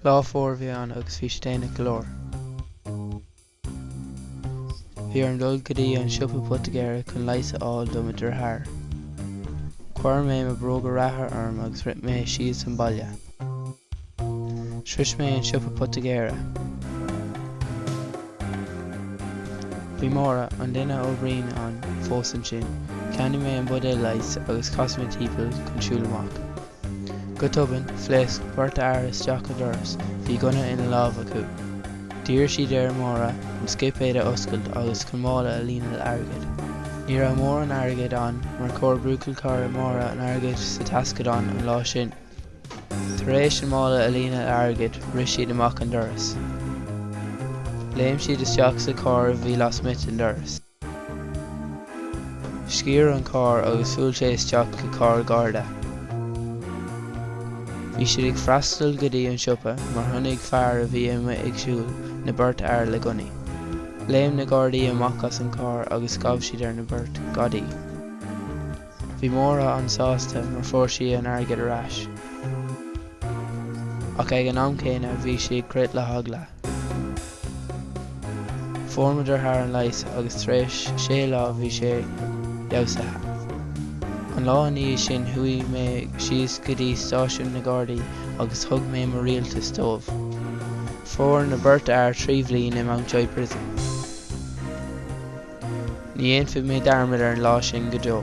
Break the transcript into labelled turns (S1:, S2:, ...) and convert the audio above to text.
S1: Lá fuar a bhí ann agus bhí sé déanach go leor. Bhí orm dul go dtí an siopa poitigéara chun leigheas a fháil do mo dheartháir. Chuir mé mo bhróga reatha orm agus rith mé síos an baile. Shrois mé an siopa poitigéara. Bhí Máire, an duine a oibríonn ann, fós ansin. Cheannaigh mé an buidéal leighis agus chas mé timpeall chun siúl amach. Go tobann, phléasc beirt fhear isteach an doras. Bhí gunna ina lámh acu. D'iarr siad ar Máire an scipéad a oscailt agus chun mála a líonadh le airgead. Ní raibh mórán airgid ann mar chuir buachaillchara Máire an airgead sa taisceadán an lá sin. Tar éis an mála a líonadh le airgead, rith siad amach an doras. Léim siad isteach sa charr a bhí lasmuigh den doras. Sciorr an carr agus bhuail sé isteach go carr garda. Bhí siad ag freastal go dtí an siopa mar chonaic fear a bhí amuigh ag siúl na beirt fhear le gunnaí. Léim na gardaí amach as an carr agus ghabh siad ar na beirt gadaí. Bhí Máire an-sásta mar fuair sí an airgead ar ais. Ach ag an am céanna bhí sí ag crith le heagla. Fuair mo dheartháir an leigheas agus tar éis sé lá bhí sé fheabhsaithe. An lá i ndiaidh sin chuaigh mé síos go dtí stáisiún na Gardaí agus thug mé mo ráiteas dóibh. Fuair na beirt fhear trí bhliain i Mountjoy Prison. Ní dhéanfaidh mé dearmad ar an lá sin go deo.